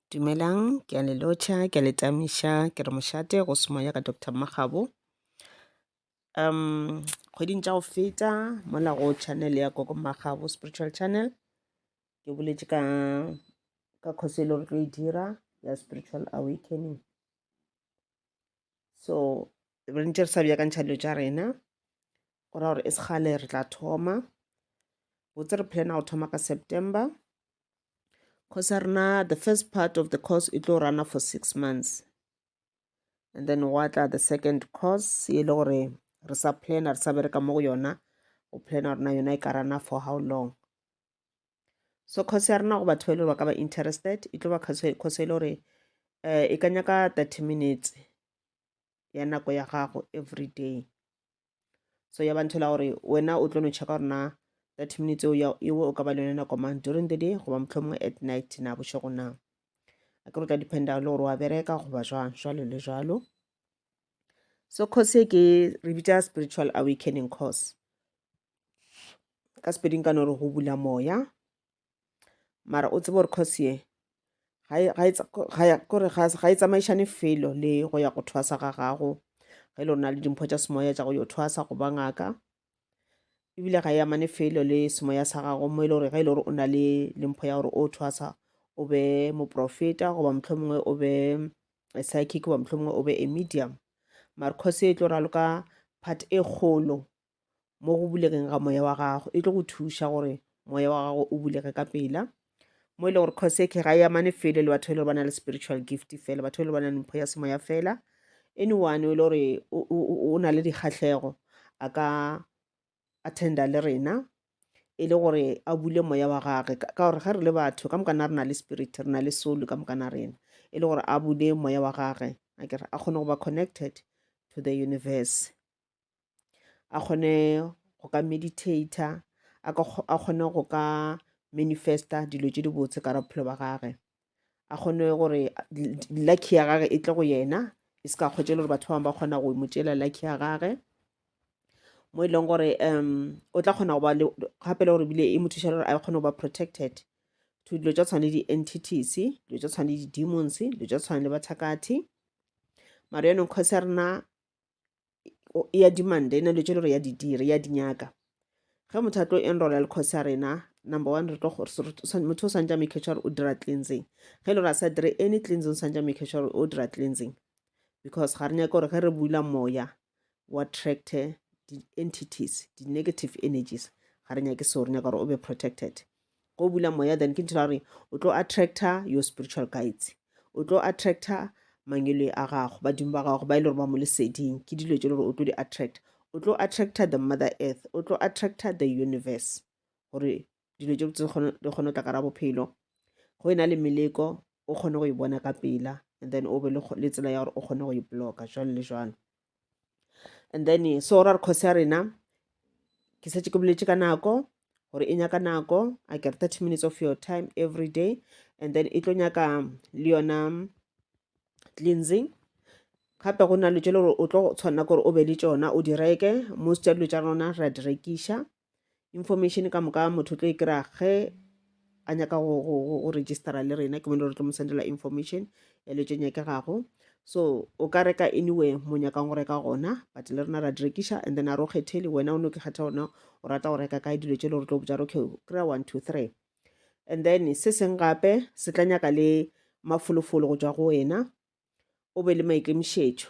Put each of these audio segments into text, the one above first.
Dumelang, ke a le lotšha, ke a le tamiša, ke re mošate go se moya ka Doctor Mmagabo. Um, kgweding tša go feta mola go channel ya Gogo Mmagabo Spiritual Channel, ke boletše ka ka khoso e le gore tlo e dira ya Spiritual Awakening. so re ntse re sa bjakantšha dilo tša rena go ra gore e segale re tla thoma botse re plana go thoma ka september course ya rena the first part of the course e tlo rana for six months and then wa tla the second course e le gore re sa plana re sa bereka mo go yona go plana rena yona e ka rana for how long so course ya rena go batho ba ile ba ka ba interested e tlo ba course e le gore um e ka nyaka thirty minutes ya nako ya gago every day so ya bantho la gore wena o tlo no checka gore na thirty minutes eo o ka ba le yone nako mang during the day goba mohlomongwe at night na bošego na a ke re tla dependa le gore wa bereka goba jwang jwalo le jwalo so course e ke re bitsa spiritual awakening course ka sepeding ka no re go bula moya mara o tsebe gore course ye kore ga e tsamaišane felo le go ya go thwasa ga gago ge le rona le dimpho tša semoya tša go yo thwasa go ba ngaka ebile ga e amane felo le semoya sa gago mo e le gore ge e le gore o na le lempho ya gore o thwasa o be moprofeta goba motlho mongwe o be psychic goba motlho mongwe o be a medium mare cause e tlo raloka part e kgolo mo go bulegeng ga moya wa gago e tlo go thuša gore moya wa gago o bulege ka pela mo e le gore cause ke ga ya mane fele le batho e le ba na le spiritual gift fela batho e le ba na le mpho ya semoya fela anyone e le gore o na le dikgatlhego a ka attenda le rena e le gore a bule moya wa gage ka gore ge re le batho ka mokana re na le spirit re na le soul ka mokana rena e le gore a bule moya wa gage a kere a kgone go ba connected to the universe a kgone go ka meditator a kgone go ka manifesta dilo tše dibotse ka bophelo ba gage a kgone gore lucky ya gage e tle go yena e se ka kgwetše le gore batho ba bangwe ba kgona go mo tšela lucky ya gage mo e leng gore um o tla kgona go ba le gape le gore bile e mo thuša gore a kgone go ba protected to dilo tša tshwane di-entities dilo tša tshwane di-demons dilo tša tshwane le bathakathi mare yone nkhosi ya rena ya dimanda e na le tšo le gore ya didire ya dinyaka ge motho a tlo enrola le course ya rena number one re tlo motho o swantse a make sure o dira cleansing ge e le gore a sa dire any cleansing o swantse a make sure o dira cleansing because ga re nyake gore ge re bula moya o attracte di-entities di-negative energies ga re nyake seo re nyaka gore o be protected go bula moya then ke ntho ya gore o tlo attractor your spiritual guides o tlo attractor mangelo a gago badimo ba gago ba e le gore ba mo leseding ke dilo tse le gore o tlo di attract o tlo attractor the mother earth o tlo attractor the universe gore dilo tse di kgone go tla kara bophelo go e na le meleko o kgone go e bona ka pela and then o be le tsela ya gore o kgone go e bloka jalo le jalo and then so ra re kgosi ya rena ke setse ke boletse ka nako gore e nyaka nako a kere thirty minutes of your time every day and then e tlo nyaka le yona cleansing gape go na le tse le gore o tlo tshwanela gore o be le tsona o di reke most ya dilo tsa rona ra di rekiša information ka moka motho o tlo e kry-a ge a nyaka go, go, go, go registera le rena ke bone re tlo mo sendela information ya le tše nyakegago so o ka reka anyway mo nyakang go reka gona but le rena ra di rekiša and then a re o kgethele wena o ne o ke kgetha ona o rata go reka kae dilo tše le gore tlo botsa okay kry-a one two three and then se seng gape se tla nyaka le mafolofolo go tswa go wena o be le maikemišetšo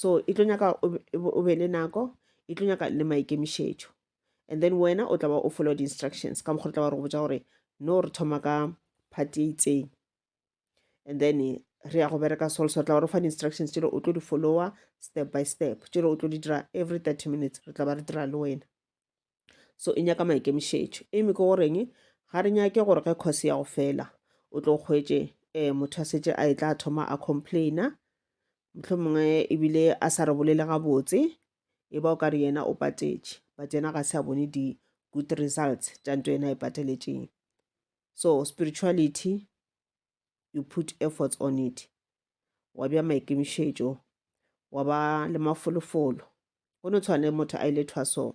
so e tlo nyaka o be le nako e tlo nyaka le maikemišetšo and then wena o tlaba o follow di-instructions ka mokgwa o tlaba re go botsa gore no re thoma ka party e itseng and then re ya go bereka sol so tla re fa di-instructions tšelo o tlo di followa step by step tšelo o tlo di dira every thirty minutes re tla ba re dira le wena so e nyaka maikemišetšo eme ke goreng ga re nyake gore ge course ya go fela o tlo kgwetše um motho a setse a e tla thoma a complaina motlho mongwe ebile a sa re bolele gabotse e ba o ka re yena o patetše but yena ga se a bone di-good results tša nto yena e pateletšeng so spirituality you put efforts on it wa bja maikemišetšo wa ba le mafolofolo go no tshwane motho a ile thwasong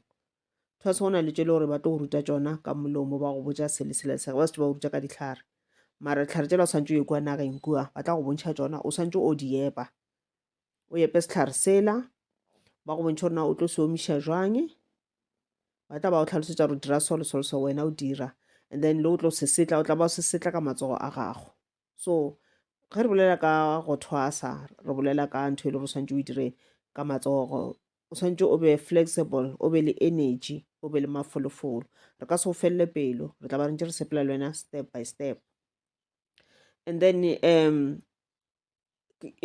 thwaso go na le tšo le gore ba tlo go ruta tšona ka molomo ba go botša sele sela sega ba setse ba go ruta ka ditlhare mara ditlhare tšela o swantse o ye kua nageng kua ba tla go bontšha tšona o swantse o di epa o epe sehlare sela ba go bontšha gore na o tlo se omiša jwang ba tla ba go tlhalosetsa gore dira solo solo so wena o dira and then le o tlo se setla o tla ba o se setla ka matsogo a gago so ge re bolela ka go thwasa re bolela ka ntho e le gore o swantse o e dire ka matsogo o swantse o be flexible o be le energy o be le mafolofolo re ka se go felele pelo re tla ba re ntse re sepela le wena step by step and then um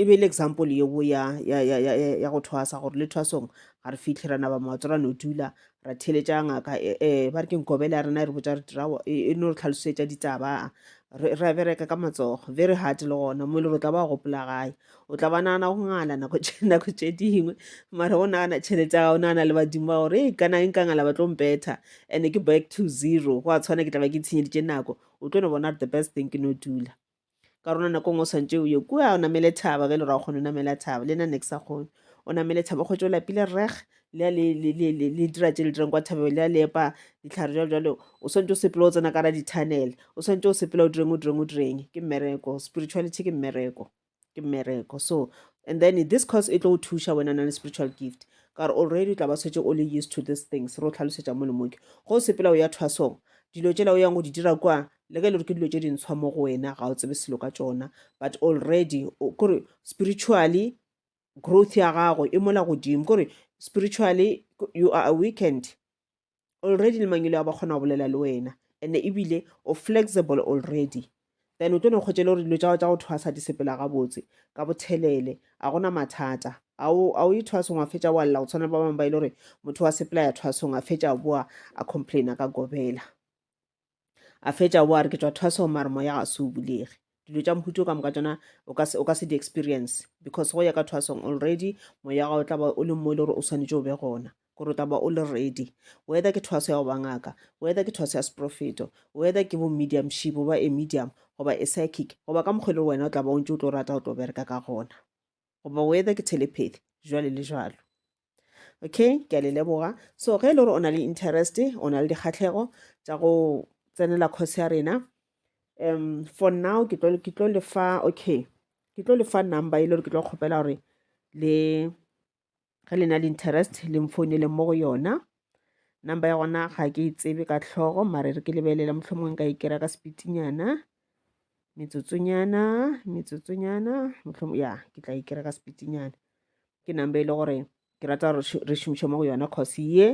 e be e le example yeo ya, ya, ya, ya, ya, ya go thwasa gore le thwasong ga re fitlhe ra naba maoto ra no dula ra theletša ngaka um ba re ke nkobele ya rena e re botsa re dirawa e no re tlhalosetša ditaba ra bereka ka matsogo very hard le gona mo e le gore o tla ba gopola gae o tla ba nagana go ngala nako nako tše dingwe mara o nagana tšhelete ya o nagana le badimo ba gore e kana e nkangala ba tlo mpetha and-e ke back to zero go a tshwana ke tla ba ke itshenyeditše nako o tlo no bona the best thing ke no dula ka rona nako ngwe o swantse o ye kua o namele thaba ge e le ra o kgone o namela thaba le na ne ke sa kgone o namele thaba o kgwetse o lapile reg le le dira tse le dirang kwa thabeo le a lepa ditlhare jalo jalo o swantse o sepela o tsena ka ra di-tunnel o swantse o sepela o direng o direng o direng ke mmereko spirituality ke mmereko ke mmereko so and then this course e tlo go thuša wena na le spiritual gift ka gore already o tla ba swetse o le used to these things re o tlhalosetša mo le moke go sepela o ya thwasong dilo tsela o yang go di dira kwa le ge le ke dilo tše dintshwa mo go wena ga o tsebe selo ka tšona but already kore spiritually growth ya gago e mola godimo kore spiritually you are a weekend already le mangelo a ba kgona go bolela le wena and ebile o flexible already then o tlo ne kgotse le gore dilo tsa go thwa sa di sepela gabotse ka bothelele a gona mathata a o e thwasong wa fetša wa lla go tshwana le ba bangwe ba e le gore motho wa sepela ya thwasong a fetša boa a complaina ka gobela a fetša o a re ke tšwa thwaso mare moya ga se o bulege dilo tša mohuto ka moka tšona o ka se di-experience because go ya ka thwasong already moya ga o tla ba o le mo e le gore o swanetše o be gona gore o tla ba o le ready whether ke thwaso ya go ba ngaka whether ke thwaso ya seprofeto whether ke bo mediumship goba e medium goba e psychic goba ka mokgwa e le gore wena o tla ba o ntse o tlo rata o tlo bereka ka gona goba weather ke telepathy jwale le jwalo okay ke a le leboga so ge e le gore o na le interest o na le dikgatlhego tša go tsenela course ya rena um for now ke tlo lefa okay ke tlo lefa number e le gore ke tlo kgopela gore le ge le na le interest le mfounele mo go yona number ya gona ga ke e tsebe ka tlhogo mare re ke lebelela mohlomongwe ka e kera ka sepitinyana metsotsonyana metsotsonyana mohlomong ya ke tla e kera ka sepitinyana ke number e le gore ke rata gore re šomiše mo go yona cause ye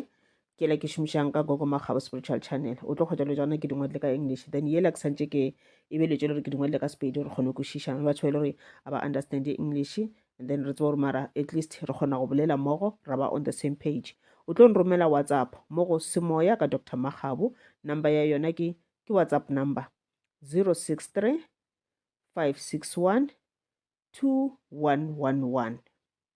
ke la ke šomišang ka gogo makgabo spiritual channel o tlo kgotsa le tsona ke dingwadile ka english then yela ke santse ke e beletše le gore ke dingwadile ka sepedi re kgone kwešiša le batho ba e le gore a ba understand english and then re tseba gore mara at least re kgona go bolela mmogo ra ba on the same page o tlo nromela whatsapp mo go semoya ka dr makgabo number ya yona ke ke whatsapp number 063 561 2111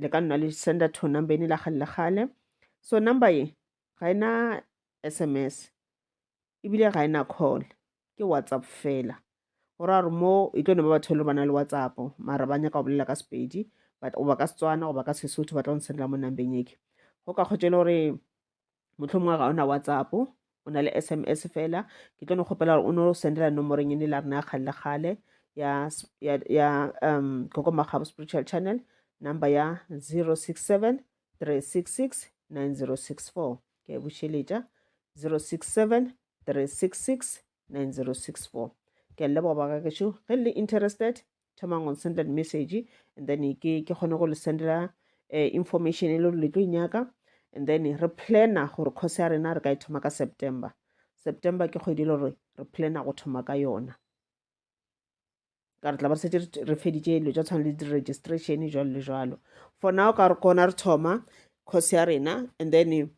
le ka nna le senda to number ene la kgale le kgale so number ye ga ena sms ebile ga ena call ke whatsapp fela go ra gore mo e tlo ne ba batho le ba na le whatsapp mara ba nyaka go bolela ka sepedi goba ka setswana goba ka sesotho ba tla go nsendela mo nambeng eke go ka kgotšele gore mohlomongwe ga ona whatsapp o na le sms fela ke tlo no kgopela gore o no sendela nomorong ene la rena ya kgale le kgale ya, ya, ya um koko magabo spiritual channel number ya 067 366 9064 ke e bušeletša 067 366 9064 ke a leboga ba gagešo ge le interested thomang on send that message and then ke ke kgone go le sendela eh, information e le gore le tlo inyaka and then re plana gore course ya rena re ka e thoma ka september september ke kgwedi e le gore re plana go thoma ka yona ka re tla ba re setse re feditse dilo tsa tshwana le di-registration jalo le jalo for now ka re kona re thoma course ya rena and then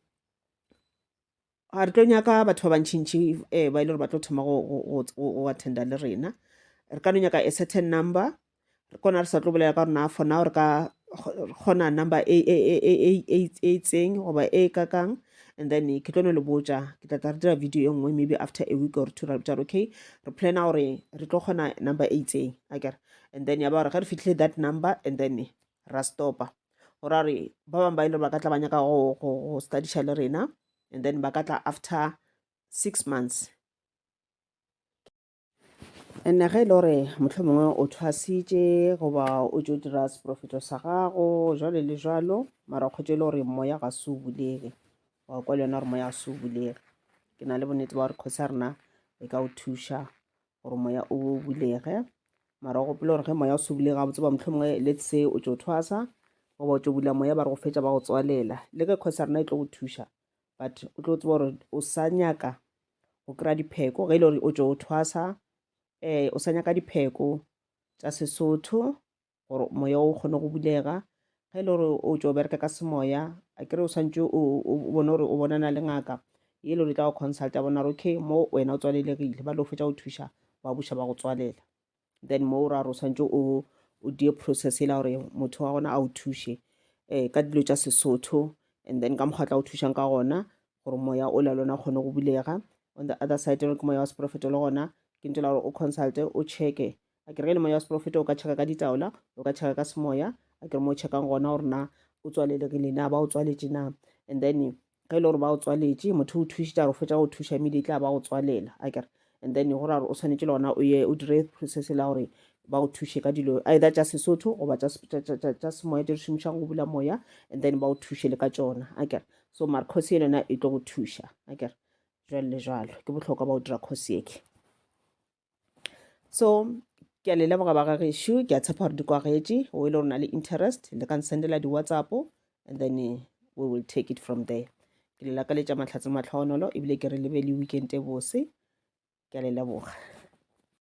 ga re tlo nyaka batho ba bantšhintšhi um eh, ba e le gore ba tlo thoma go attenda le rena re ka no nyaka a certain number re kona re sa tlo bolela ka gore na for now re ka kgona number e, e, e, e itseng goba e kakang and then ke tlo no le botja ke tlatla re dira video e nngwe maybe after a week or two ra botja okay re plana gore re tlo kgona number e itseng akere and then ya ba gore ge re fitlhile that number and then ra stopa go ra gore ba bangwe ba e le gore ba ka tla ba nyaka go studiša le rena and then ba ka tla after six months and ge e le gore motlho mongwe o thwasitše goba o tšo dira seporofeto sa gago jalo le jalo mara o kgotše e le gore moya ga se o bulege wa kwa le yona gore moya ga se o bulege ke na le bonnete ba gore kgosi ya rena e ka o thuša gore moya o bulege mara o gopela gore ge moya o se bulege ga botse ba motlho mongwe let's say o tso thwasa goba o tso bula moya ba re go fetsa ba go tswalela le ke kgosa rena e tlo go thuša but o tlo tseba gore o sa nyaka go kry-a dipheko ge e le gore o tso thwasa um o sa nyaka dipheko tsa sesotho gore moya o kgone go bulega ge e le gore o tšo bereka ka semoya a kere o swantse o bone gore o bonana le ngaka e le gore e tla go consulta bona gore okay mo wena o tswalelegile ba le o fetsa go thuša ba buša ba go tswalela then mo o ra gore o swantse o o die process e la gore motho wa gona a o thuše um ka dilo tša sesotho and then ka mokgwa tla go thušang ka gona gore moya o la lona kgone go bulega on the other side ke moya wa seporofeto le gona ke ntse la gore o consulte o checke a ke re ge le moya wa seprofeta o ka tšheka ka ditaola o ka tšheka ka semoya a ke re mo o tšhekang gona gore na o tswalelegile na ba o tswaletše na and then ge e le gore ba o tswaletše motho o thušitša gore fetša go thuša mele e tla ba go tswalela a kere and then go ra gore o tshwanetse le gona o ye o dire process la gore ba go thuše ka dilo either tša sesotho goba tša semoya tse di šomišang go bula moya and then ba go thuše le ka tsona a kere so mare kgosi e lona e tlo go thuša a kere jalo le jalo ke bohlokwa ba go dira kgosi eke so ke a le leboga ba gagešu ke a tshepa gore di kwagetše o e le gore na le interest le ka nsendela di-whatsapp and then eh, we will take it from there ke le lakaletša mahlatse matlhogonolo ebile ke re lebe le weekend e bose ke a le leboga